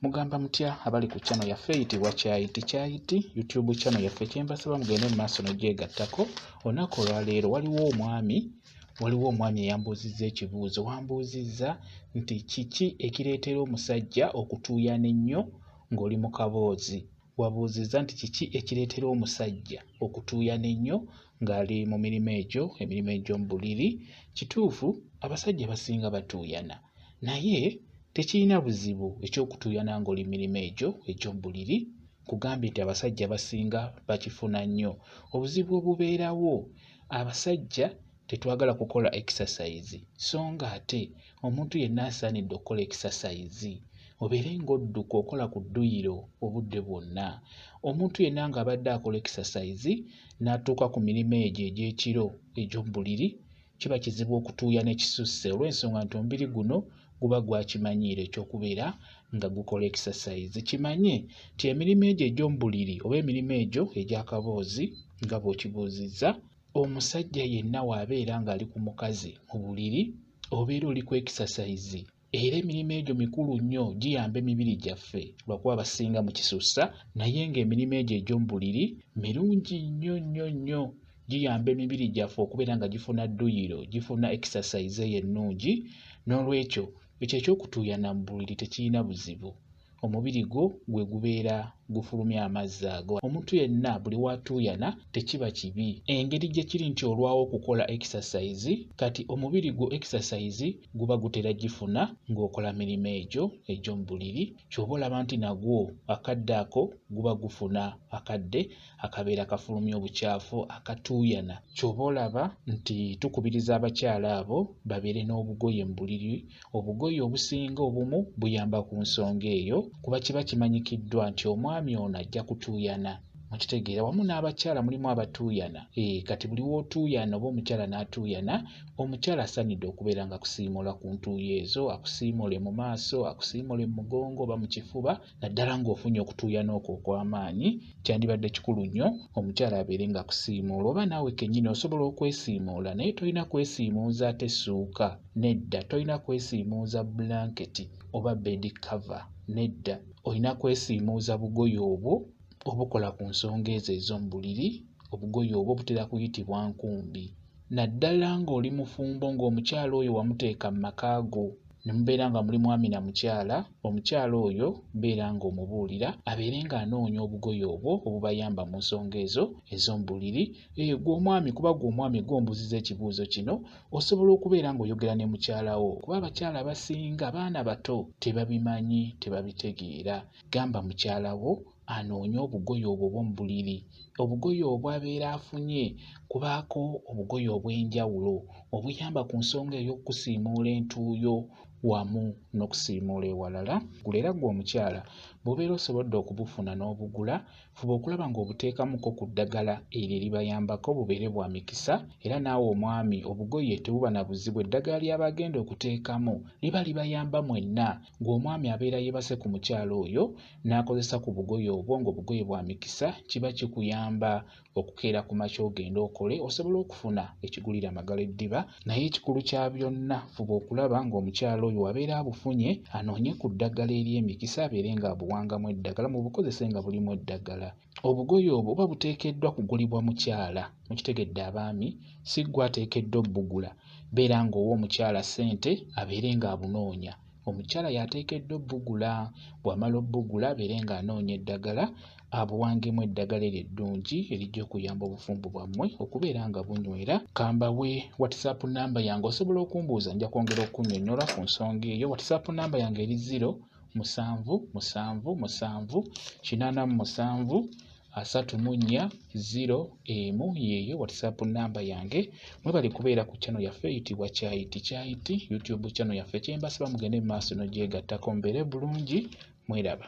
Mugamba mutya abali ku channel yaffe eyitibwa Kyayiti Kyayiti YouTube channel yaffe kyembasaba mugende mu maaso n'ogyegattako olunaku olwaleero waliwo omwami waliwo omwami eyambuuzizza ekibuuzo wambuuzizza nti kiki ekireetera omusajja okutuuyana ennyo ng'oli mu kaboozi wabuuzizza nti kiki ekireetera omusajja okutuuyana ennyo ng'ali mu mirimu egyo emirimu egy'omu buliri kituufu abasajja basinga batuuyana naye tekirina buzibu eky'okutuuyana ng'oli mu mirimu egyo egy'omu buliri nkugambye nti abasajja basinga bakifuna nnyo obuzibu obubeerawo abasajja tetwagala kukola ekisasayizi so nga ate omuntu yenna asaanidde okukola ekisasayizi obeere ng'odduka okola ku dduyiro obudde bwonna omuntu yenna ng'abadde akola ekisasayizi n'atuuka ku mirimu egyo egy'ekiro egy'omu buliri kiba kizibu okutuuya ne kisusse olw'ensonga nti omubiri guno guba gwakimanyiira ekyokubeera nga gukola ekisasayizi kimanye nti emirimu egyo egy'omu buliri oba emirimu egyo egy'akaboozi nga bw'okibuuzizza omusajja yenna w'abeera ng'ali ku mukazi mu buliri obeera oli ku ekisasayizi era emirimu egyo mikulu nnyo giyamba emibiri gyaffe lwakuba basinga mu kisussa naye ng'emirimu egyo egy'omu buliri mirungi nnyo nnyo nnyo giyamba emibiri gyaffe okubeera nga gifuna dduyiro gifuna ekisasayize eyo ennungi n'olwekyo ekyo ekyokutuuyana mu buliri tekirina buzibu. omubiri gwo gwe gubeera gufulumya amazzi ago. Omuntu yenna buli w'atuuyana tekiba kibi. Engeri gye kiri nti olwawo okukola ekisasayizi, kati omubiri gwo ekisasayizi guba gutera gifuna ng'okola mirimu egyo egy'omu buliri. Ky'oba olaba nti nagwo akadde ako guba gufuna akadde. akabeera kafulumya obukyafu akatuuyana ky'oba olaba nti tukubiriza abakyala abo babeere n'obugoye mu buliri obugoye obusinga obumu buyamba ku nsonga eyo kuba kiba kimanyikiddwa nti omwami ono ajja kutuuyana mukitegeera wamu n'abakyala mulimu abatuuyana e, kati buli w'otuuyana oba omukyala n'atuuyana omukyala asanidde okubeera nga akusiimula ku ntuuyo ezo akusiimule mu maaso akusiimule mu mugongo oba mu kifuba naddala ng'ofunye okutuuyana okwo okw'amaanyi kyandibadde kikulu nnyo omukyala abeere nga kusiimuula oba naawe kennyini osobola okwesiimuula naye tolina kwesiimuuza ate ssuuka nedda tolina kwesiimuuza bulanketi oba bedi kava nedda olina kwesiimuuza bugoye obwo obukola ku nsonga ezo ez'omu buliri obugoye obwo butera kuyitibwa nkumbi naddala ng'oli mufumbo ng'omukyala oyo wamuteeka mu maka go ne mubeera nga muli mwami na mukyala, omukyala oyo beera ng'omubuulira abeere ng'anoonya obugoye obwo obubayamba mu nsonga ezo ez'omu buliri. Eh, gwe omwami kuba gwe omwami gwe ombuuziza ekibuuzo kino, osobola okubeera ng'oyogera ne mukyala wo kuba abakyala abasinga baana bato tebabimanyi, tebabitegeera. Gamba mukyala wo anoonye obugoye obwo bw'omu buliri, obugoye obwo abeera afunye kubaako obugoye obw'enjawulo obuyamba ku nsonga ey'okukusiimuula entuuyo wamu n'okusiimuula ewalala. Gulo era gwe omukyala bw'obeera osobodde okubufuna n'obugula, fuba okulaba ng'obuteekamuko ku ddagala eryo eribayambako bubeere bwa mikisa era naawe omwami obugoye tebuba na buzibu eddagala ly'aba agenda okuteekamu liba libayamba mwenna, gwe omwami abeera yeebase ku mukyala oyo n'akozesa ku bugoye obwo ng'obugoye bwa mikisa kiba kikuyamba okukeera ku makya ogende okole osobola okufuna ekigulira magala eddiba naye ekikulu kya byonna fuba okulaba ng'omukyala oyo wabeera abufunye anoonye ku ddagala ery'emikisa abeere ng'abuwangamu eddagala mu bukozese nga bulimu eddagala obugoye obwo oba buteekeddwa kugulibwa mukyala mukitegedde abaami si ggwe ateekeddwa obbugula beera ng'owa omukyala ssente abeere ng'abunoonya omukyala y'ateekeddwa obbugula bw'amala obbugula abeere ng'anoonya eddagala abuwangemu eddagala eryo eddungi erijja okuyamba obufumbo bwammwe okubeera nga bunywera kambawe whatsapp namba yange osobola okumbuuza nja kwongera okunyonyola ku nsonga eyo whatsapp namba yange eri ziro musanvu musanvu musanvu kinaana mu musanvu asatu mu nnya ziro emu yeeyo whatsapp namba yange mwebali kubeera ku channel yaffe eyitibwa kyayiti kyayiti youtube channel yaffe kyembasaba mugende mu maaso nogyegattako mbeere bulungi mweraba